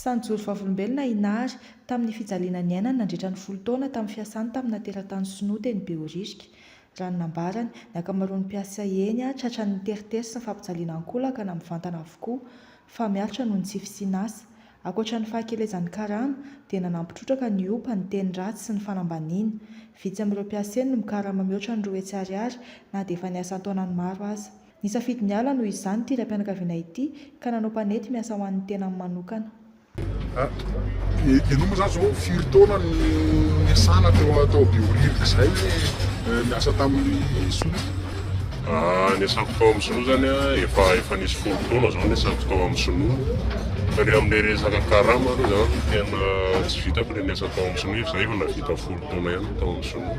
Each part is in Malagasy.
Sa nijoro vavolombelona i Nari tamin'ny fijaliana niainany nandritra ny folo taona tamin'ny fiasany tamina teratany sinoa teny Behoririka? Raha ny nambarany, ny ankamaroan'ny mpiasa eny tratran'ny teritery sy ny fampijaliana ankolaka na mivantana avokoa fa miaritra noho ny tsy fisian'asa. Ankoatra ny fahakelezan'ny karama, dia nanampy trotraka ny opa, ny teny ratsy sy ny fanambaniana. Vitsy amin'ireo mpiasa eny no mikarama mihoatra ny roa hetsy ariary na dia efa niasa an-taonany maro aza. Nisafidy ny ala noho izany ity raim-pianakaviana ity ka nanao mpanety miasa ho an'ny tenany manokana. Ianao moa izany izao firy taona no niasana tao tao Behoririka izay niasa tamin'ny Sinoa? Niasako tao amin'ny Sinoa izany efa efa nisy folo taona izao niasako tao amin'ny Sinoa. Fa ny amin'ilay resaka karama aloha izany tena tsy vitako ilay niasa tao amin'ny Sinoa, izaho efa nahavita folo taona ihany tao amin'ny Sinoa.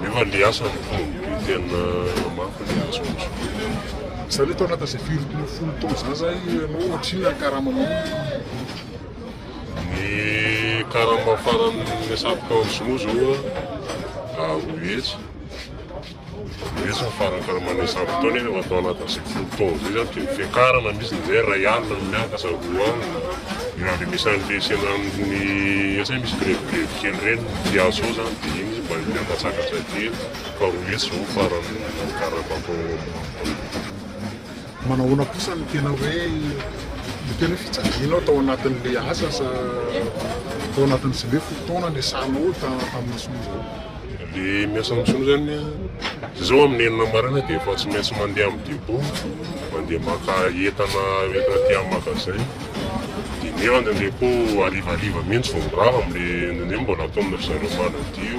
Nefa le asa no tonga be tena mafy le asa ohatry ny hoe. Zany hoe tao anatin'izay firy taona folo taona izany zany ianao ohatrinona ny karamanao? Ny karama farany niasako tao amin'ny sinoa zao a roa hetsy. Resy ny farakaraman'ny isan-potoana izy rehefa atao anatin'izay folo taona izay izany dia ny fiakarana misy ny izay iray alina no miakatra, roa alina, ny nandrenesan'ny lesena amin'ny asa hoe misy grevigrevy kely ireny ny mpiasa ao izany dia iny izy mba miakatsakatra kely fa roa hetsy izao ny faran'ny karama atao ao ambony. Manahoana kosa ny tena hoe ny tena hoe fijalianao tao anatin'ilay asa sa tao anatin'izay hoe folo taona niasanao tamin'ny Sonoza? Ilay miasa amin'ny Sonoza zany an, zay zao amin'ny enina maraina dia efa tsy maintsy mandeha amin'ny depot, mandeha maka entana hoentina aty amin'ny magasin, dia nefa indraindray koa harivariva mihitsy vao mirava amin'ilay indraindray mbola ataon'izareo manadio.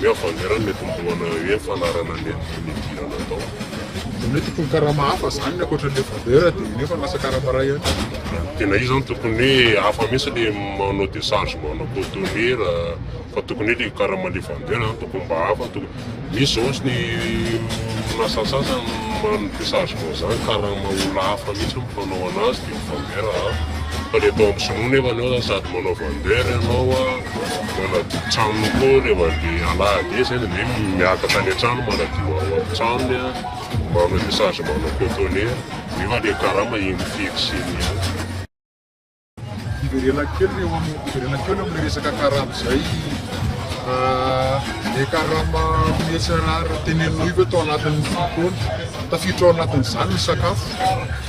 Ny havangerany mety milohana eo amin'ny fanarahana ny andiany nidirana tao. Dia mety tokony karama hafa izany ny ankoatra ilay vabeur dia nefa lasa karama iray ihany koa. Tena izy izany tokony hoe hafa mihitsy ilay manao décharge manao cotonera fa tokony hoe ilay karama ilay vabeur izany tokony mba hafa tokony. Misy izao ohatry ny orinasa sasany manao déchargement izany karama olona hafa mihitsy no mpanao an'azy Mifanera a! Fa le tao amin'ny sinoa nefa enao zany sady manao vendeur enao a, manadio tranony koa rehefa le alahady iny zay de ndre miakatra any an-trano manadio ao amin'ny tranony a, manao tessage manao cotonner nefa le karama eny fixe eny ihany. Hiverena kely eo amin'ny hiverena kely eo amin'ny resaka karama izay le karama mihetsy tenenina io ve tao anatin'ny fotoana tafiditra ao anatin'izany ny sakafo?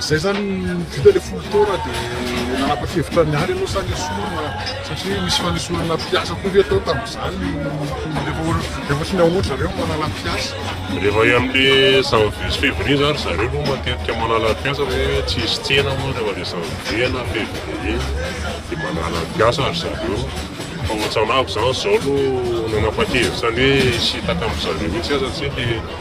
Zay zany vita le folo taona de nanapa-kevitra niala ianao sa nesorina satria misy fanesorana mpiasa koa ve tao tamin'izany rehefa rehefa tsy mihaona zareo no manala mpiasa? Rehefa any amin'le janvier sy février zany ry zareo aloha matetika manala mpiasa fa hoe tsy hisy tsena moa rehefa le janvier na février de manala mpiasa ry zareo fa ohatran'avy zany zao no nanapa-kevitra ny hoe hisintaka amin-dry zareo mihitsy aza tsy le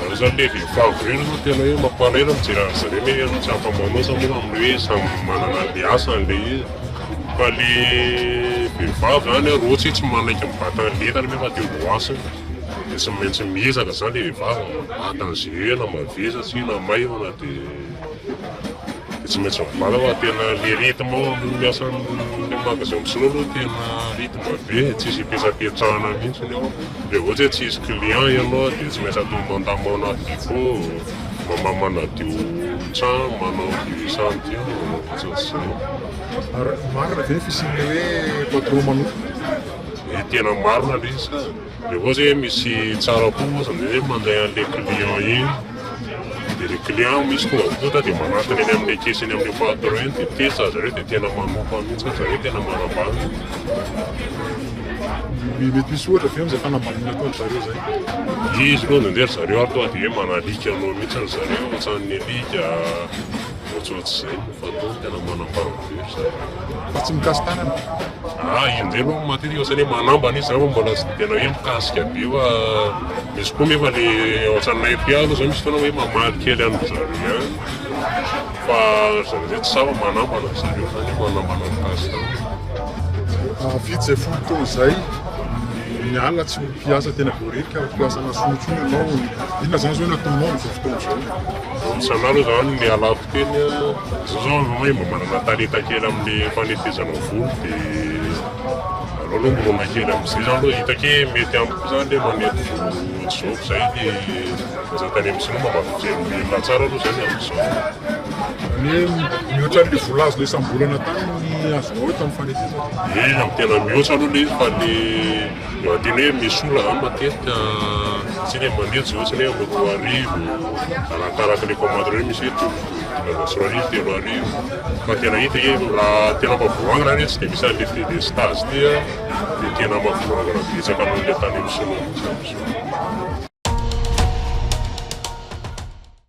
Raha izany ilay vehivavy ireny aloha no tena hoe mamparera mijery an'izy ireny hoe tsy afa-manoatra moa amin'ny hoe samy manana an'ilay asany ilay izy. Fa ilay vehivavy izany raha ohatra hoe tsy manaiky mibata an'ilay entana anefa dia ho lasa eo dia tsy maintsy miezaka izany ilay vehivavy mibata an'izay hoe na mavesatra io na maivana dia. Dia tsy maintsy mivala fa tena le rythme ao amin'ny miasa amin'ny magasin misolo aloha tena rythme be e, tsisy ipetrapetrahana mihitsiny ao, raha ohatra hoe tsisy client ianao dia tsy maintsy atao mandamàna depot, mama manadio trano, manao io sady io, ohatratr'izay. Ary marina ve ny fisian'ilay hoe patron manontolo? Tena marina le izy ka. Dia koa zay misy tsara koa ohatry ny hoe mandray an'ilay client iny, dia ilay client misy tonga voatonta dia manatona eny amin'ilay caisse eny amin'ilay patron eny dia tetsy ry zareo dia tena manofa mihitsy ry zareo tena manambady. Dia mety misy ohatra ve amin'izay fanambadiana ataon-dry zareo izay? Izy aloha indraindray ry zareo ary tonga dia hoe manalika anao mihitsy ry zareo, ohatran'ny alika, ohatrohatr'izay, fa tena manambady. Fa tsy mikasy tanana an! Ah io ndray manko matetika ohatrany hoe manambana izy zany fa mbola tsy tena hoe mikasika be fa misy koa nefa le ao an-tranonay aty aloha zany misy fotoana hoe mamaly kely an'dry zareo ihany fa ry zareo zay tsy sahy fa manambana ry zareo zany hoe manambana mikasy tanana. Vitsy izay folo taona izay ny alina tsy ho mpiasa tena voaheloka fa ho mpiasa an'Asomontsoa ianao, inona izany izao no ataonao amin'izao fotoana izao? Misaotra anareo za no nialako teny a. Zao zao anao hoe mba manana talenta kely amle fanetezana volo de aleo aloha mirona kely amzay za aloha hitako hoe mety amiko zany le manety volo ohatr'zao ko zay de aza tany am sinoa mba mijery milina tsara aloha zany amzao. Zany hoe mihoatra anle vola azonao isam-bolana tany ny azonao eto am fanetezana? Ye, am tena mihoatra aloha le izy fa le. Mahadino hoe misy olona izany matetika tsy hoe mandeha tsy hoe moto roa arivo, arakaraka ilay commande hoe misy hoe tombok'olona roa arivo, telo arivo, fa tena hita hoe raha tena mavoangana izany hoe tsy dia misy an'ilay frais de stage ity dia tena mavoangana betsaka noho ilay tany amin'ny sinoa mihitsy amin'izao.